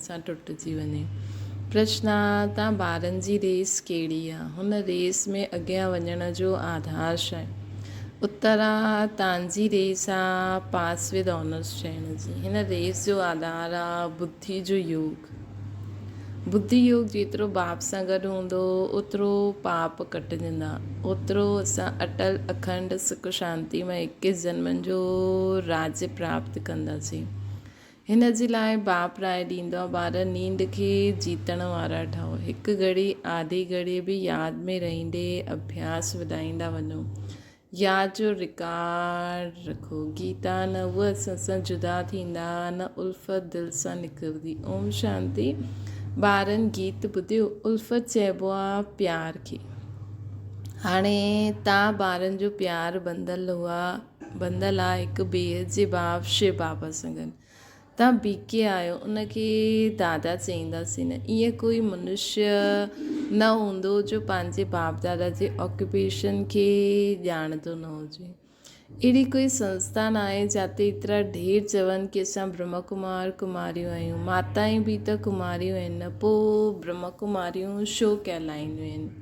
سان ٽٽجي وڃي. پرشنا، تان ٻارن جي ريس ڪهڙي آ؟ هن ريس ۾ اڳيان وڃڻ جو آڌار ڇا آهي؟ اترا، تانجي ريس آ پاس ود آنرس ٺهڻ جي. هن ريس جو آڌار آ ٻڌي جو يوگ. ٻڌي يوگ جيترو باپ سان گڏ هوندو، اوترو پاپ ڪٽجندا، اوترو اسان اٽل، اکنڊ، سک شانتي مئي اڪيس جنمن جو راجي پراپت ڪنداسين. هن جي لاء باپ راء ڏيندو آ، ٻار نينڊ کي جيتڻ وارا ٺهو، هڪ گهڙي آڌي گهڙي به ياد ۾ رهندي اڀياس وڌائيندا وڃو، ياد جو رڪارڊ رکو، گيتا نه هو اسان سان جدا ٿيندا، نه الفت دل سان نڪرندي. اوم شانتي ٻارن گيت ٻڌيو، الفت چئبو آ پيار کي، هاڻي تان ٻارن جو پيار ٻنڌل هئا. بندل آ هڪ بيهه جي باب شي بابا سڱن تان بيڪي آيو ان کي دادا چئينداسين نه ايئن ڪوئي منشي نه هوندو جو پنهنجي باب دادا جي آڪيوپيشن کي ڄاڻندو نه هجي اهڙي ڪوئي سنسٿا ناهي جاتي ايترا ڍير چون ڪي اسان برهما ڪمار ڪماريون آهيون ماتائين به ته ڪماريون آهن نه پو برهما ڪماريون شو ڪهلائينديون آهن.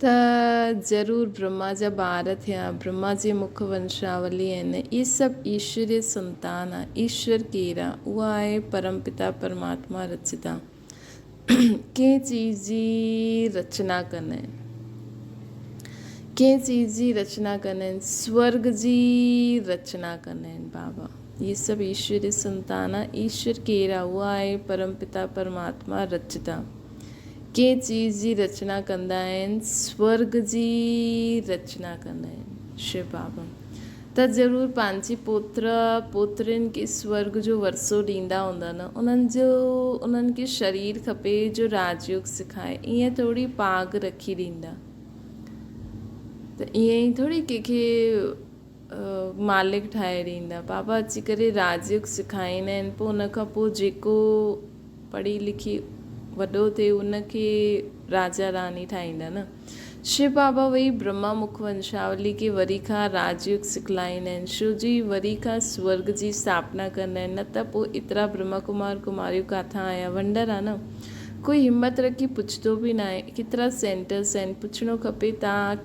ته ضرور برهما جا ٻار ٿيا، برهما جي مک ونشاولي آهن، اهي سڀ ايشوري سنتان آهن، ايشور ڪير آهي؟ اهو آهي پرم پتا پرماتما رچدا ڪنهن چيز جي رچنا ڪندا آهن، ڪنهن چيز جي رچنا ڪندا آهن، سورگ جي رچنا ڪندا آهن بابا، اهي سڀ ايشوري سنتان آهن، ايشور ڪير آهي؟ اهو آهي پرم پتا پرماتما رچدا. ڪنهن چيز جي رچنا ڪندا آهن، سورگ جي رچنا ڪندا آهن. شو بابا ته ضرور پنهنجي پوتر پوترين کي سورگ جو ورثو ڏيندا هوندا نه انهن جو انهن کي شرير کپي جو راج يوگ سکائي ايئن ٿوري پاڳ رکي ڏيندا ته ايئن ٿوري ڪنهن کي مالڪ ٺاهي ڏيندا. بابا اچي ڪري راڄيوگ سکائيندا آهن پوء ان کان پوء جيڪو پڙهي لکي وڏو ٿئي ان کي راجا راڻي ٺاهيندا نه. شو بابا وئي برهما مک ونشاولي کي وري کان راڄيوگ سکلائيندا آهن. شو جي وري کان سورگ جي اسٿاپنا ڪندا آهن نه ته پوء ايترا برهما ڪمار ڪماريون ڪاٿان آيا ونڊر آهي نه. ڪوئي همت رکي پڇندو به ناهي. ڪيترا سينٽرس آهن پڇڻو کپي تان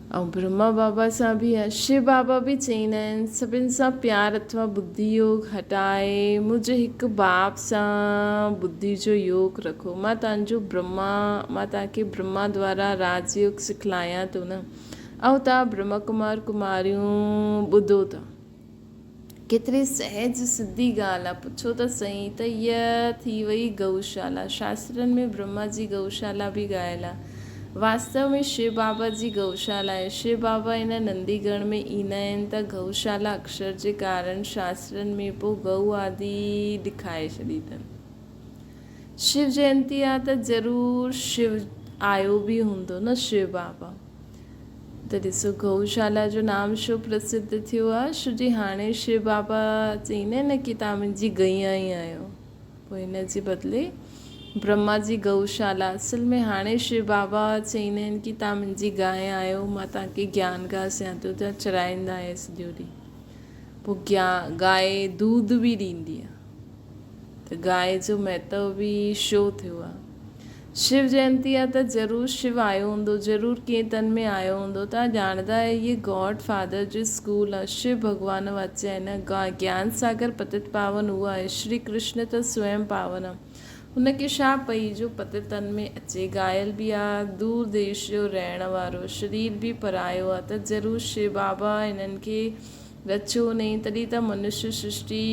۽ برهما بابا سان به ائين شو بابا به چئين آهن سڀن سان پيار اٿوا ٻڌي يوگ هٽائي منهنجي هڪ باب سان ٻڌي جو يوگ رکو مان تهنجو برهما مان تهان کي برهما دوارا راج يوگ سکلايان ٿو نه ائو تهان برهما ڪمار ڪماريون ٻڌو ٿا. ڪيتري سهج سڌي ڳالهه آ. پڇو ته سهي ته هيء ٿي وئي گئوشالا. شاسترن ۾ برهما جي گئوشالا به ڳايل آ. واستو ۾ شو بابا جي گئوشالا آهي. شو بابا هن نندي گڻ ۾ ايندا آهن ته گئوشالا اڪشر جي ڪارڻ شاسترن ۾ پوء گئو آدي ڏکائي ڇڏي اٿن. شو جينتي آ ته ضرور شو آيو به هوندو نه شو بابا. ته ڏسو گئوشالا جو نام شو پرسڌ ٿيو آ شو جي هاڻي شيو بابا چئين نه ڪي تان منهنجي گئيان ئي آهيو پوء ان جي بدلي برهما جي گئوشالا اصل ۾ هاڻي شيو بابا چئين آهن ڪي تان منهنجي گاهي آهيو مان تان کي گيان گاهه سيان ٿو ڏيان چرائيندا آهي سڄو ڏي پوء گيا گاهي دود به ڏيندي آ ته گاهي جو مهتو به شو ٿيو آ شو جينتي آ ته ضرور شو آيو هوندو ضرور ڪنهن تن ۾ آيو هوندو توهان ڄاڻندا آهيو هيء گاڊ فادر جو اسڪول آ شو ڀڳوان واچي آهن گيان ساگر پتت پاون اهو آهي شري ڪرشن ته سوئم پاون آ هن کي ڇا پئي جو پتت تن ۾ اچي گايل به آ دور ديش جو رهڻ وارو شرير به پرايو آ ته ضرور شو بابا هنن کي رچيو نئين تڏهن ته منش سرشتي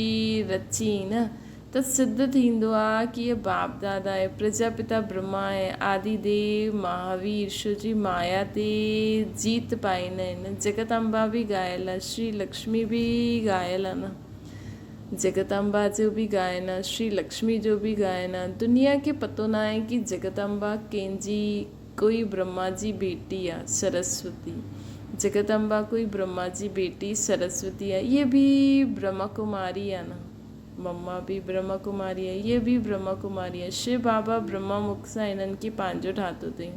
رچي نه ته سڌ ٿيندو آ ڪي باپ دادا ۽ پرجاپتا برهما ۽ آدي ديو مهاوير شو جي مايا تي جيت پائين ۽ جڳت امبا به ڳايل آ شري لڪشمي به ڳايل آ نه جڳت امبا جو به ڳائن آ شري لڪشمي جو به ڳائن آ دنيا کي پتو ناهي ڪي جڳت امبا ڪنهن جي ڪوئي برهما جي بيٽي آ سرسوتي جڳت امبا ڪوئي برهما جي بيٽي سرسوتي آ اهي به برهما ڪماري آ نه. مما به برهما ڪماري آهي، هيء به برهما ڪماري آهي. شو بابا برهما مک سان هنن کي پنهنجو ٺاهتو اٿئي.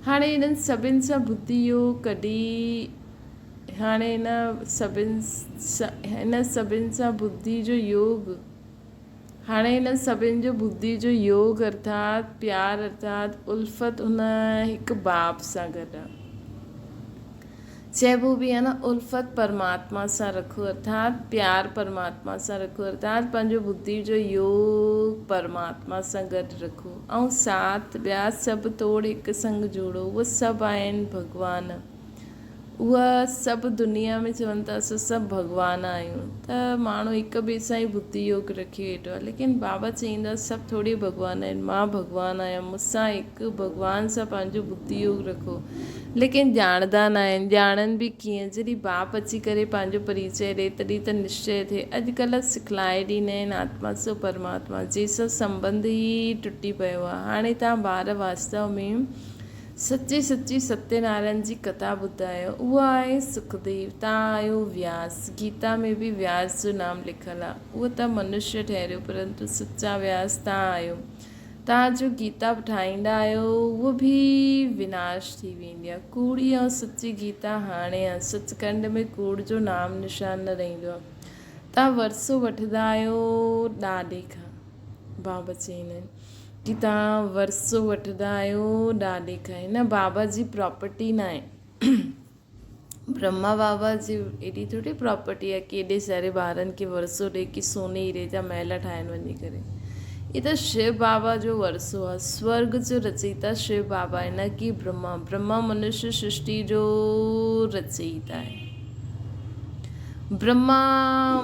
هاڻي هنن سڀن سان ڀتي اهو ڪڍي هاڻي هن سڀن هن سڀن سان ٻڌي جو يوگ هاڻي هنن سڀن جو ٻڌي جو يوگ ارٿات پيار ارٿات الفت هن هڪ باب سان گڏ آهي. چئبو به آهي نه الفت پرماتما سان رکو ارٿات پيار پرماتما سان رکو ارٿات پنهنجو بدي جو يوگ پرماتما سان گڏ رکو ۽ ساٿ ٻيا سڀ توڙ هڪ سنگ جوڙو اهي سڀ آهن ڀڳوان اهي سڀ دنيا ۾ چون ٿا اسان سڀ ڀڳوان آهيون ته ماڻهو هڪ ٻئي سان ئي بدي يوگ رکي ويٺو آهي ليڪن بابا چئين ٿا سڀ ٿوڙي ڀڳوان آهن مان ڀڳوان آهيان مون سان هڪ ڀڳوان سان پنهنجو بدي يوگ رکو ليڪن ڄاڻندا ناهن. ڄاڻن به ڪيئن؟ جڏهن باپ اچي ڪري پنهنجو پريچئه ڏئي، تڏهن ته نشچئه ٿئي. اڄڪلهه سکلائي ڏيندا آهن، آتما سو پرماتما، جنهن سان سنٻنڌ ئي ٽٽي پيو آهي. هاڻي توهان ٻار واستو ۾ سچي سچي ستيه نارائڻ جي ڪٿا ٻڌايو. اها آهي سکديو. توهان آهيو وياس. گيتا ۾ به وياس جو نام لکيل آهي. اهو ته منشيه ٺهريو، پرنتو سچا وياس توهان آهيو. توهان جو گيتا به ٺاهيندا آهيو هوء به وناش ٿي ويندي آهي. ڪوڙي ۽ سچي گيتا هاڻي آهن. سچ ڪنڊ ۾ ڪوڙ جو نام نشان نه رهندو آهي. توهان ورثو وٺندا آهيو ڏاڏي کان. بابا چين آهن ڪي توهان ورثو وٺندا آهيو ڏاڏي کان هن بابا جي پراپرٽي ناهي. برهما بابا جي ايڏي ٿوري پراپرٽي آهي ڪي ايڏي ساري ٻارن کي ورثو ڏئي ڪي سوني هيري جا محل ٺاهين وڃي ڪري هي ته شو بابا جو ورثو آهي سورگ جو رچيتا شو بابا آهي نه ڪي برهما برهما منشي سرشتي جو رچيتا آهي. برهما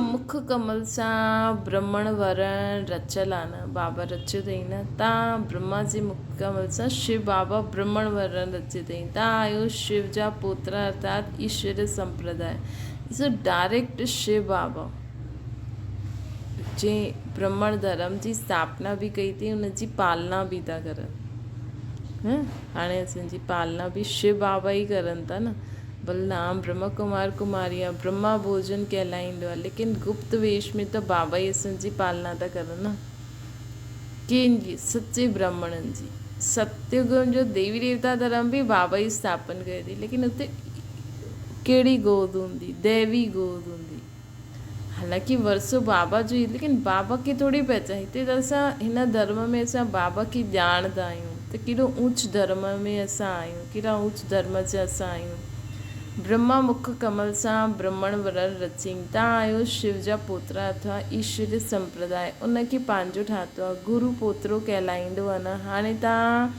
مک ڪمل سان برهمڻ ورڻ رچيل آ نه بابا رچيو تئين نه تان برهما جي مک ڪمل سان شو بابا برهمڻ ورڻ رچيو تئين تان آهيو شو جا پوترا ارٿات ايشوري سمپرداء جي ڊائريڪٽ شو بابا جنهن برهمڻ ڌرم جي استاپنا به ڪئي تئين ان جي پالنا به ٿا ڪرن هاڻي اسان جي پالنا به شو بابا ئي ڪرن ٿا نه بلرام، برهما ڪمار ڪمار يا برهما ڀوڄن ڪهلائيندو آهي، ليڪن گپت ويش ۾ ته بابا ئي اسن جي پالنا ٿا ڪرن نه ڪنهن جي، سچي برهمڻن جي. ستيوڳ جو ديوي ديوتا ڌرم به بابا ئي اسٿاپن ڪيو اٿئي، ليڪن اتي ڪهڙي گود هوندي، ديوي گود هوندي. حالانڪه ورثو بابا جو ئي ليڪن بابا کي ٿوري پهچان هتي ته اسان هن ڌرم ۾ اسان بابا کي ڄاڻندا آهيون ته ڪيڏو اوچ ڌرم ۾ اسان آهيون ڪيڏا اوچ ڌرم جا اسان آهيون برهما مک ڪمل سان برهمڻ ورڻ رچين تان آهيو شو جا پوترا اٿا ايشوري سمپرداء ان کي پنهنجو ٺاهتو آهي گرو پوترو ڪهلائيندو آهي نه هاڻي تان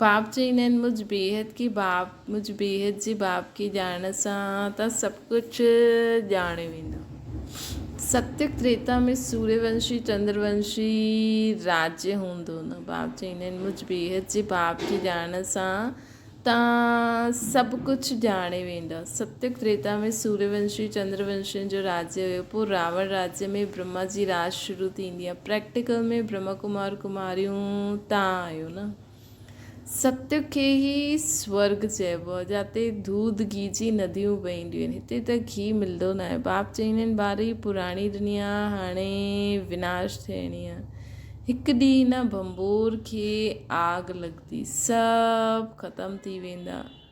باب چئين ۽ مجھ بيهد ڪي باب مجھ بيهد جي باب ڪي ڄاڻڻ سان ته سڀ ڪجھ ڄاڻيو ويندو. ستيوگ تريتا ۾ سوريه ونشي چندر ونشي راجيه هوندو نه باب چئين ۽ مجھ بيهد جي باب ڪي ڄاڻڻ سان ته سڀ ڪجھ ڄاڻيو ويندو. ستيوگ تريتا ۾ سوريه ونشي چندر ونشين جو راجيه هيو پوء راوڻ راجيه ۾ برهما جي راڄ شروع ٿيندي ۽ پريڪٽيڪل ۾ برهما ڪمار ڪماريون تان آيون. ستيء کي ئي سورڳ چئبو آهي، جاتي دود گيهه جي نديون وهنديون آهن. هتي ته گيهه ملندو ناهي. باب چئيندا آهن، ٻارڙي پراڻي دنيا هاڻي وناش ٿيڻي آهي. هڪ ڏينهن هن ڀنڀور کي آڳ لڳندي، سڀ ختم ٿي ويندا.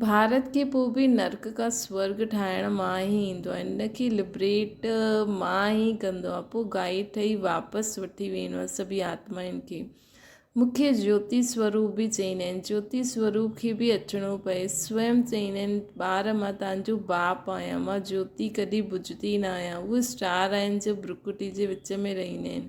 ڀارت کي پوء به نرڪ کان سورڳ ٺاهڻ مان ئي ايندو آهي ان کي لبريٽ مان ئي ڪندو آهي پوء گائي ٺهي واپس وٺي ويندو آهي سڀئي آتمائن کي مون کي جيوتي سوروپ به چئيندا آهن جيوتي سوروپ کي به اچڻو پئي سوئم چئيندا آهن ٻار مان تنهنجو باپ آهيان مان جيوتي ڪڏهن بجهندي نه آهيان اهي اسٽار آهن جو برڪوٽي جي وچ ۾ رهندا آهن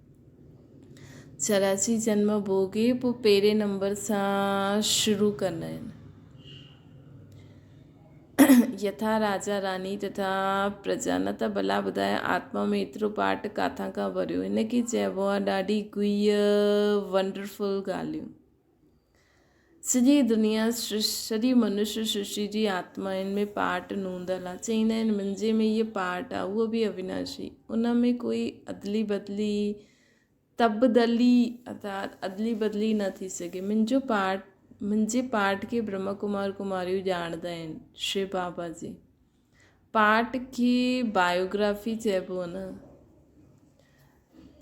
چراچي جنم ڀوڳي پوء پهرين نمبر سان شروع ڪندا آهن. يٿا راجا راني تٿا پرجا نه ته ڀلا ٻڌاء آتما ۾ ايترو پاٽ ڪاٿان کان ڀريو هن کي چئبو آهي ڏاڍي گهيء Wonderful ڳالهيون. سڄي دنيا سرشتي، سڄي منشي سرشتي جي آتمائن ۾ پاٽ نوندل آ. چئيندا آهن منهنجي ۾ هيء پاٽ آ، اهو به اويناشي. ان ۾ ڪوئي ادلي بدلي، تبدلي ارٿات ادلي بدلي نه ٿي سگهي. منهنجو پاٽ، منهنجي پاٽ کي برهما ڪمار ڪماريون ڄاڻندا آهن. شري بابا جي. پارٽ کي بايوگرافي چئبو نه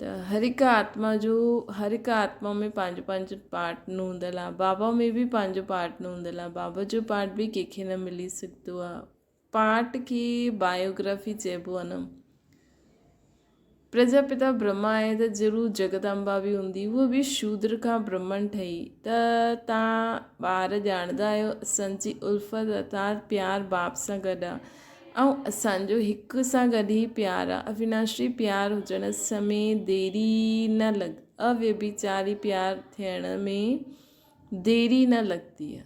ته هر هڪ آتما جو هر هڪ آتما ۾ پنهنجو پنهنجو پارٽ نه هوندل آ بابا ۾ بي پنهنجو پارٽ نه هوندل آ بابا جو پارٽ به ڪنهن کي نه ملي سگهندو آ پارٽ کي بايوگرافي چئبو نه پرجاپتا برهما آهي ته ضرور جگدامبا به هوندي، هوء به شودر کان برهمڻ ٺهي ته توهان ٻار ڄاڻندا آهيو اسان جي الفت ارٿات پيار باپ سان گڏ آهي ۽ اسان جو هڪ سان گڏ هي پيار آهي اويناشي پيار هجڻ سمين ديري نه لڳ اويڀچاري پيار ٿيڻ ۾ ديري نه لڳندي آهي.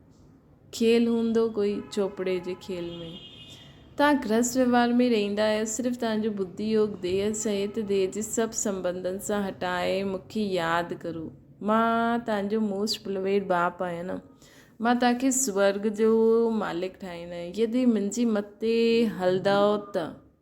کيل هوندو ڪوئي چوپڙي جي کيل ۾. توهان گرهست وهنوار ۾ رهيندا آهيو، صرف توهان جو ٻڌي يوگ ديهه سهت ديهه جي سڀ سنٻنڌن سان هٽائي مون کي ياد ڪرو. مان توهان جو موسٽ بلويڊ ٻاپ آهيان نه. مان توهان کي سورڳ جو مالڪ ٺاهيندو آهيان يدي منهنجي مت تي هلندؤ ته.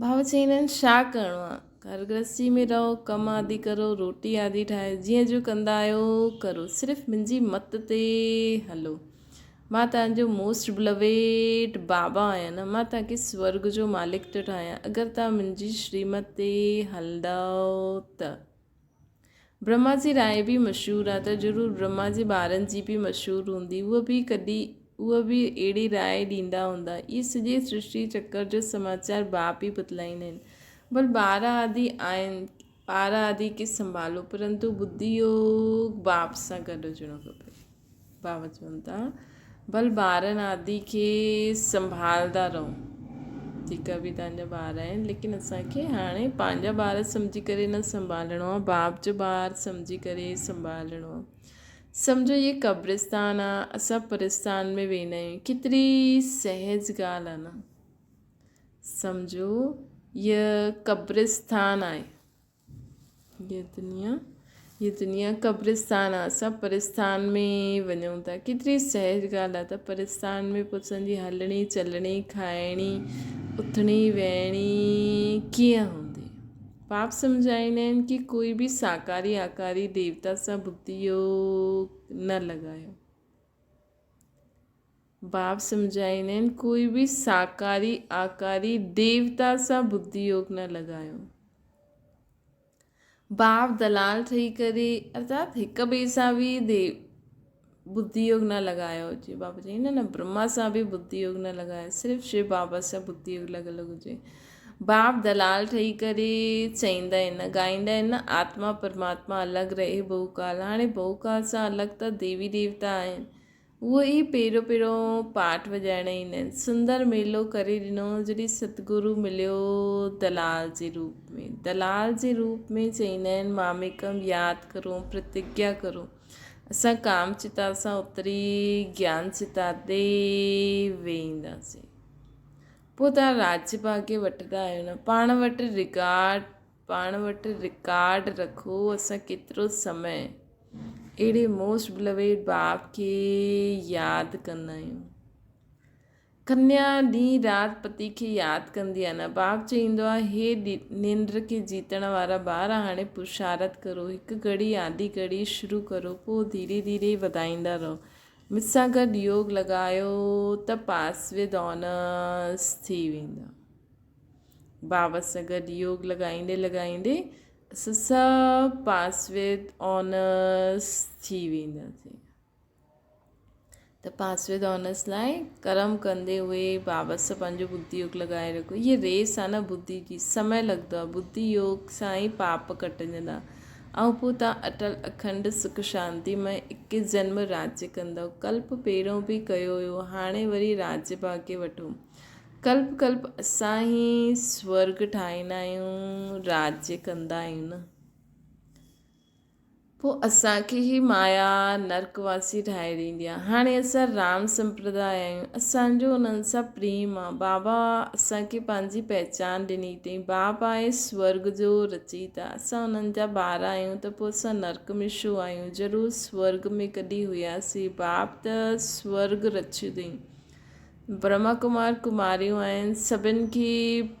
ڀاء چيائين هن ڇا ڪرڻو آهي گهر گرهستي ۾ رهو ڪم آدي ڪرو روٽي آدي ٺاهي جيئن جو ڪندا آهيو ڪرو صرف منهنجي مت تي هلو مان تنهنجو موسٽ بلويٽ بابا آهيان نه مان تنهنکي سورگ جو مالڪ ٿو ٺاهيان اگر تنهن منهنجي شريمت تي هلندؤ ته برهما جي راء به مشهور آ ته ضرور برهما جي ٻارن جي به مشهور هوندي اهي به ڪڏهن اهي به اهڙي راء ڏيندا هوندا اهي سڄي سرشتي چڪر جو سماچار باپ ئي بتلائيندا آهن ڀل ٻار آدي آهن ٻار آدي کي سنڀالو پرنتو ٻڌي يوگ باپ سان گڏ هجڻو کپي. باوت چون ٿا ڀل ٻارن آدي کي سنڀالدا رھون جيڪا به تنهن جا ٻار آهن ليڪن اسان کي هاڻي پنهنجا ٻار سمجهي ڪري نه سنڀالڻو آهي باپ جو ٻار سمجهي ڪري سنڀالڻو آهي سمجهو هي قبرستان آهي اسان پرستان ۾ ويندا آهيون ڪيتري سهج ڳالهه آهي نه سمجهو هي قبرستان آهي هيء دنيا هيء دنيا قبرستان آ، اسان پرستان ۾ وڃون ٿا. ڪيتري سهج ڳالهه آ ته پرستان ۾ پڇن جي هلڻي، چلڻي، کائڻي، اٿڻي، ويهڻي ڪيئن هوندي؟ پاپ سمجهائيندا آهن ڪي ڪوئي به ساڪاري آڪاري ديوتا سان بتيو نه لڳايو. باب سمجهائين آهن، ڪوئي به ساڪاري، آڪاري، ديوتا سان بدي يوگ نه لڳايو. باب دلال ٺهي ڪري ارٿات هڪ ٻئي سان به ديو بدي يوگ نه لڳايو. جي باب چئي نه نه برهما سان به بدي يوگ نه لڳايو صرف شو بابا سان بدي يوگ لڳل هجي. باب دلال ٺهي ڪري چئيندا آهن، ڳائيندا آهن، آتما پرماتما الڳ رهي بهوڪال، هاڻي بهوڪال سان الڳ ته ديوي ديوتا آهن، اهي ئي پهريون پهريون پاٽ وڄائڻ ايندا آهن، سندر ميلو ڪري ڏنو، جڏهن ستگرو مليو دلال جي روپ ۾، دلال جي روپ ۾ چئيندا آهن، ماميڪم ياد ڪرو، پرتگيا ڪرو، اسان ڪام چتا سان اتري گيان چتا تي ويهنداسين. پوء توهان راڄ ڀاڳي وٺندا آهيو نه. پاڻ وٽ رڪارڊ پاڻ وٽ رڪارڊ رکو اسان ڪيترو سمي اهڙي موسٽ بلويڊ باب کي ياد ڪندا آهيون. ڪنيا ڏينهن رات پتي کي ياد ڪندي آهي نه. باب چئيندو آهي هي ننڊ کي جيتڻ وارا ٻار هاڻي پرشارت ڪرو هڪ گهڙي آڌي گهڙي شروع ڪرو پوء ڌيري ڌيري وڌائيندا رهو. مون سان گڏ يوگ لڳايو ته پاس وي دونس ٿي ويندا. بابا سان گڏ يوگ لڳائيندي لڳائيندي اسان سڀ پاس وي دونس ٿي وينداسين. ته پاس وي دونس لاء ڪرم ڪندي اهي بابا سان پنهنجو بدي يوگ لڳائي رکو. هيء ريس آهي نه بدي جي، سمئي لڳندو آهي. بدي يوگ سان ئي پاپ ڪٽجندا. آئون پو تان اٽل اکنڊ سک شانتي مئي اڪيس جنم راجي ڪندو ڪلپ پهريون به ڪيو هيو هاڻي وري راجي ڀاڳي وٺو ڪلپ ڪلپ اسان هي سورگ ٺاهيندا آهيون راجي ڪندا آهيون نه پو اسان کي هي مايا نرڪ واسي ٺاهي ڏيندي آهي هاڻي اسان رام سمپرداء آهيون اسان جو انهن سان پريم آهي بابا اسان کي پنهنجي پهچان ڏني اٿئي باپ آهي سورگ جو رچيتا اسان انهن جا ٻار آهيون ته پوء اسان نرڪ ۾ ڇو آهيون؟ ضرور سورگ ۾ ڪڏهن هياسين. باپ ته سورگ رڇيو اٿئي. برهما ڪمار ڪماريون آهن سڀن کي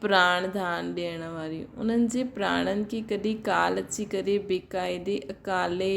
پراڻ ڌان ڏيڻ واريون. انهن جي پراڻن کي ڪڏهن ڪال اچي ڪري بي قاعدي اڪالي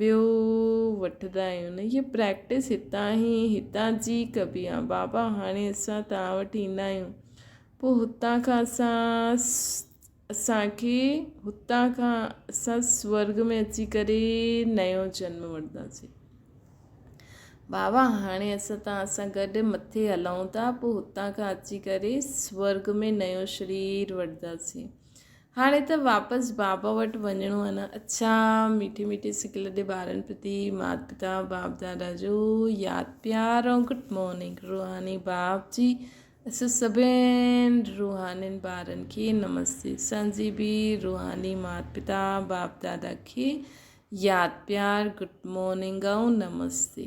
ٻيو وٺندا آهيون نه هي پريڪٽس هتان هي هتان جي ڪبي آ بابا هاڻي اسان توهان وٽ ايندا آهيون پوء هتان کان اسان اسانکي هتان کان اسان سورگ ۾ اچي ڪري نيو جنم وٺنداسين بابا هاڻي اسان توهان سان گڏ مٿي هلون ٿا پوء هتان کان اچي ڪري سورگ ۾ نيو شرير وٺنداسين هاڻي ته واپس بابا وٽ وڃڻو آهي نه؟ اڇا! ميٺي ميٺي سڪ لڏي ٻارن پرتي مات پتا باپ دادا جو ياد پيار ۽ گڊ مارننگ روحاني باپ جي اسين سڀين روحانين ٻارن کي نمستي اسان جي به روحاني مات پتا باپ دادا کي ياد پيار گڊ مارننگ ۽ نمستي.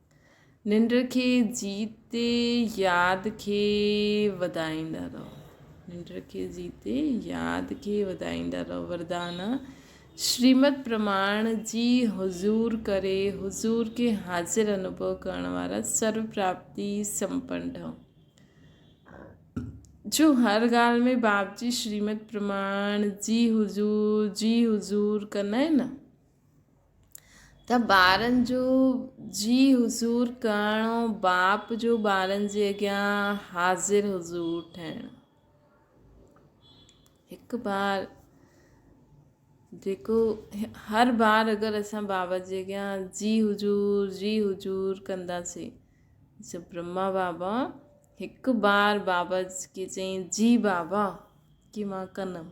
ننڊ کي جيتي ياد کي وڌائيندا رهو ننڊ کي جيتي ياد کي وڌائيندا رهو وردان شريمد پرماڻ جي حضور ڪري حضور کي حاضر انوڀو ڪرڻ وارا سرو پراپتي سمپن ٺهو جو هر ڳالهه ۾ باپ جي شريمد پرماڻ جي حضور جي حضور ڪنائين ته ٻارن جو جي حضور ڪرڻو باپ جو ٻارن جي اڳيان حاضر حضور ٺهڻ هڪ بار جيڪو هر بار اگر اسان بابا جي اڳيان جي حضور جي حضور ڪنداسين جيسي برما بابا هڪ بار بابا کي چئين جي بابا ڪي مان ڪنم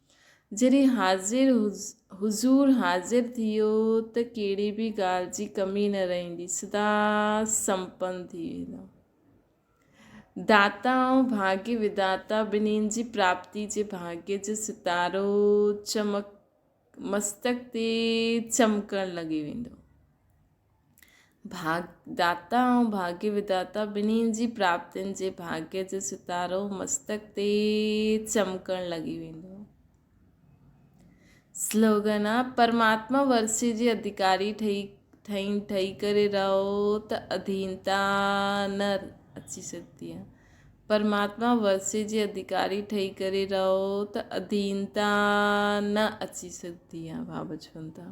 جڏهن حاضر حضور حاضر ٿيو ته ڪهڙي به ڳالهه جي ڪمي نه رهندي، سدا سمپن ٿي ويندا. داتا ۽ ڀاڳي وداتا ٻنهين جي پراپتي جي ڀاڳي جو ستارو چمڪ مستڪ تي چمڪڻ لڳي ويندو. ڀاڳداتا ۽ ڀاڳي وڌاتا ٻنهي جي پراپتين جي ڀاڳي جو ستارو مستڪ تي چمڪڻ لڳي ويندو. سلوگن، پرماتما ورسي جي اڌڪاري ٺهي ٺهين ٺهي ڪري رهو ته اڌينتا نه اچي سگهندي آهي پرماتما ورسي جي اڌڪاري ٺهي ڪري رهو ته اڌينتا نه اچي سگهندي آهي بابا چون ٿا